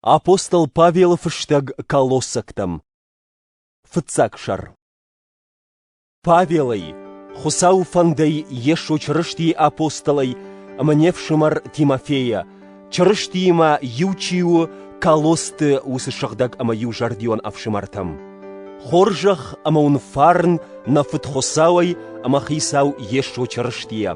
Апостол Павелы фыстӕг колоссӕгтӕм Фыццаг сӕр Павелӕй, Хуыцауы фӕндӕй Йесо Чырыстийы апостолӕй ӕмӕ не фсымӕр Тимофейӕ, Чырыстиимӕ иу чи у Колосты уыцы сыгъдӕг ӕмӕ иузӕрдион ӕфсымӕртӕм. Хорзӕх ӕмӕ уын фарн нӕ Фыд Хуыцауӕй ӕмӕ Хицау Йесо Чырыстийӕ.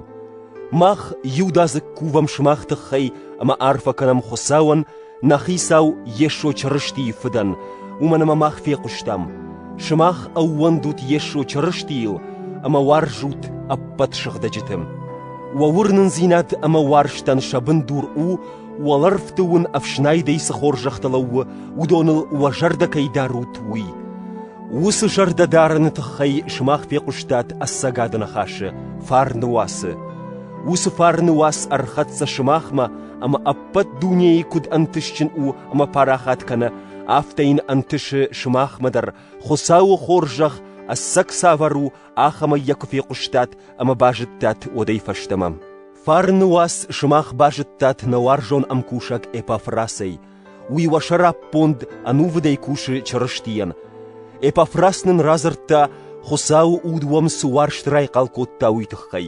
Мах иудадзыг кувӕм сымах тыххӕй ӕмӕ арфӕ кӕнӕм Хуыцауӕн, нӕ Хицау Йесо Чырыстийы Фыдӕн, уымӕн ӕмӕ мах фехъуыстам, сымах ӕууӕндут Йесо Чырыстийыл ӕмӕ уарзут ӕппӕт сыгъдӕджыты. Уӕ уырнындзинад ӕмӕ уарзтӕн сӕ бындур у, уӕлӕрвты уын ӕфснайдӕй цы хорзӕхтӕ лӕууы, уыдоныл уӕ зӕрдӕ кӕй дарут, уый. Уыцы зӕрдӕдарыны тыххӕй сымах фехъуыстат ӕцӕгады ныхасы фарны уацы. Уыцы фарны уац ӕрхӕццӕ сымахмӕ ӕмӕ ӕппӕт дунейы куыд ӕнтыстджын у ӕмӕ парахат кӕны, афтӕ йын ӕнтысы сымахмӕ дӕр, Хуыцауы хорзӕх ӕцӕг цавӕр у, ахӕмӕй йӕ куы фехъуыстат ӕмӕ базыдтат уӕдӕй фӕстӕмӕ. Фарны уац сымах базыдтат нӕ уарзон ӕмкусӕг Эпафрасӕй, Уый уӕ сӕраппонд ӕнувыдӕй кусы Чырыстийӕн. Эпафрас нын радзырдта, Хуыцауы Уд уӕм цы уарзт райхъал кодта, уый тыххӕй.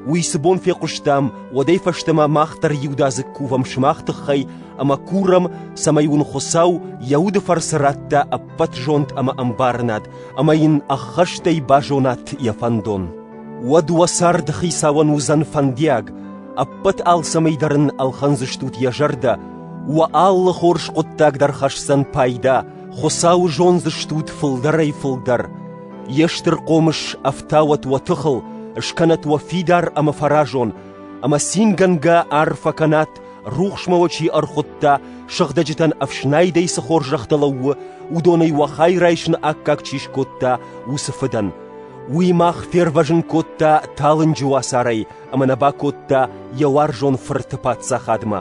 Уый цы бон фехъуыстам, уӕдӕй фӕстӕмӕ мах дӕр иудадзыг кувӕм сымах тыххӕй ӕмӕ курӕм, цӕмӕй уын Хуыцау йӕ уды фӕрцы радта ӕппӕт зонд ӕмӕ ӕмбарынад, ӕмӕ йын ӕххӕстӕй базонат йӕ фӕндон. Уӕд уӕ царды хицауӕн уыдзӕн фӕндиаг, ӕппӕт алцӕмӕй дӕр ын ӕлхӕндзыстут йӕ зӕрдӕ, уӕ алы хорз хъуыддаг дӕр хӕсдзӕн пайда, Хуыцауы зондзыстут фылдӕрӕй-фылдӕр. Йе стыр хъомыс ӕфтауӕт уӕ тыхыл, скӕнӕт уӕ фидар ӕмӕ фӕразон, ӕмӕ цингӕнгӕ арфӕ кӕнат, рухсмӕ уӕ чи ӕрхуыдта, сыгъдӕджытӕн ӕфснайдӕй цы хорзӕхтӕ лӕууы, уыдонӕй уӕ хай райсыны аккаг чи скодта, уыцы фыдӕн. Уый мах фервӕзын кодта талынджы уацарӕй ӕмӕ нӕ бакодта йӕ уарзон фырты паддзахадмӕ.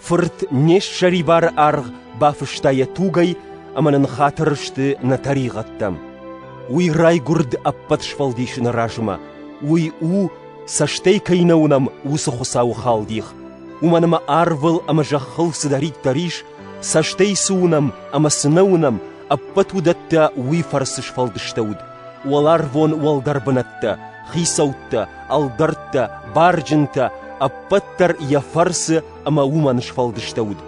Фырт не ссӕрибары аргъ бафыста йӕ тугӕй ӕмӕ нын хатыр сты нӕ тӕригъӕдтӕм. Уый райгуырд ӕппӕт сфӕлдисыны размӕ. Уый у, цӕстӕй кӕй нӕ уынӕм, уыцы Хуыцауы халдих. Уымӕн ӕмӕ арвыл ӕмӕ зӕххыл цыдӕриддӕр ис, цӕстӕй цы уынӕм ӕмӕ цы нӕ уынӕм, ӕппӕт уыдӕттӕ уый фӕрцы сфӕлдыстӕуыд. Уӕларвон уӕлдӕр бынӕттӕ, хицӕуттӕ, ӕлдӕрттӕ, барджынтӕ, ӕппӕт дӕр йӕ фӕрцы ӕмӕ уымӕн сфӕлдыстӕуыд.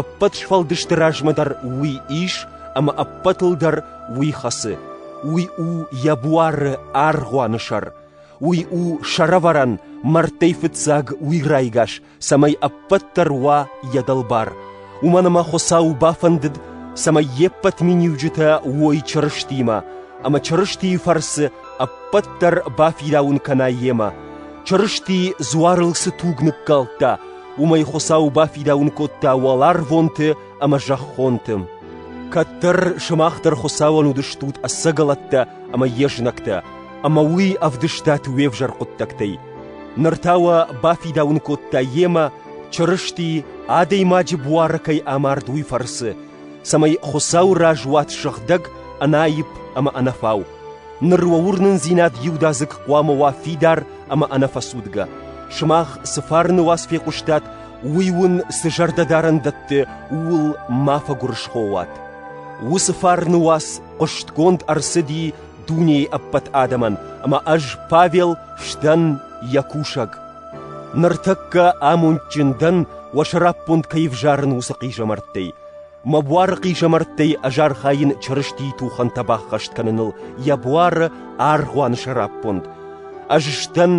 Ӕппӕт сфӕлдысты размӕ дӕр уый ис, ӕмӕ ӕппӕтыл дӕр уый хӕцы. Уый у йӕ буары аргъуаны сӕр. Уый у сӕрӕвӕрӕн, мӕрдтӕй фыццаг уый райгас, цӕмӕй ӕппӕт дӕр уа йӕ дӕлбар, уымӕн ӕмӕ Хуыцау бафӕндыд, цӕмӕй йе ппӕт миниуджытӕ уой Чырыстимӕ, ӕмӕ Чырыстийы фӕрцы ӕппӕт дӕр бафидауын кӕна йемӕ. Чырысти дзуарыл цы туг ныккалдта, уымӕй Хуыцау бафидауын кодта уӕларвонты ӕмӕ зӕххонты. Кӕддӕр сымах дӕр Хуыцауӕн уыдыстут ӕцӕгӕлӕттӕ ӕмӕ йе знӕгтӕ, ӕмӕ уый ӕвдыстат уе взӕр хъуыддӕгтӕй. Ныр та уӕ бафидауын кодта йемӕ, Чырысти адӕймаджы буары кӕй амард, уый фӕрцы, цӕмӕй Хуыцауы раз уат сыгъдӕг, ӕнаипп ӕмӕ ӕнӕфау. Ныр уӕ уырнындзинад иудадзыг хъуамӕ уа фидар ӕмӕ ӕнӕфӕцудгӕ. Сымах цы фарны уац фехъуыстат, Уый уын цы зӕрдӕдарӕн дӕтты, ууыл ма фӕгуырысхо уат. Уыцы фарны уац хъуыстгонд ӕрцыди дунейы ӕппӕт адӕмӕн, ӕмӕ ӕз, Павел, сдӕн йӕ кусӕг. Ныртӕккӕ амондджын дӕн, уӕ сӕраппонд кӕй ӕвзарын, уыцы хъизӕмӕрттӕй. Мӕ буары хъизӕмӕрттӕй ӕз архайын Чырыстийы тухӕнтӕ баххӕст кӕныныл йӕ буары аргъуаны сӕраппонд. Ӕз сдӕн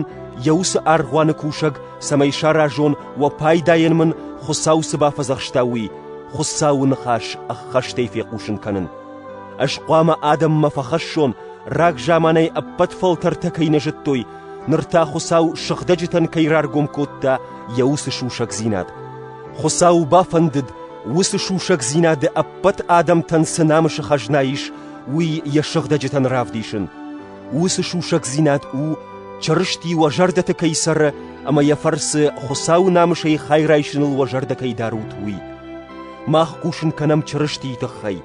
йӕ уыцы аргъуаны кусӕг, цӕмӕй саразон, уӕ пайдайӕн мын Хуыцау цы бафӕдзӕхста, уый, Хуыцауы ныхас ӕххӕстӕй фехъусын кӕнын. Ӕз хъуамӕ адӕммӕ фӕхӕссон, рагзаманӕй ӕппӕт фӕлтӕртӕ кӕй нӕ зыдтой, ныр та Хуыцау сыгъдӕджытӕн кӕй раргом кодта йӕ уыцы сусӕгдзинад. Хуыцау бафӕндыд, уыцы сусӕгдзинады ӕппӕт адӕмтӕн цы намысы хӕзна ис, уый йӕ сыгъдӕджытӕн равдисын. Уыцы сусӕгдзинад у, Чырысти уӕ зӕрдӕты кӕй цӕры ӕмӕ йӕ фӕрцы Хуыцауы намысӕй хай райсыныл уӕ зӕрдӕ кӕй дарут, уый. Мах хъусын кӕнӕм Чырыстийы тыххӕй.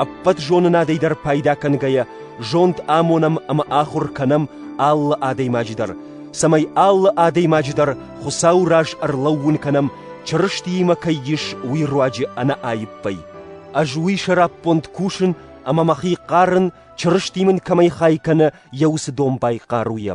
Ӕппӕт зонынадӕй дӕр пайда кӕнгӕйӕ, зонд амонӕм ӕмӕ ахуыр кӕнӕм алы адӕймаджы дӕр, цӕмӕй алы адӕймаджы дӕр Хуыцауы раз ӕрлӕууын кӕнӕм, Чырыстиимӕ кӕй ис, уый руаджы ӕнӕаиппӕй. Ӕз уый сӕраппонд кусын ӕмӕ мӕхи хъарын, Чырысти мын кӕмӕй хай кӕны, йӕ уыцы дон байхъаруйӕ.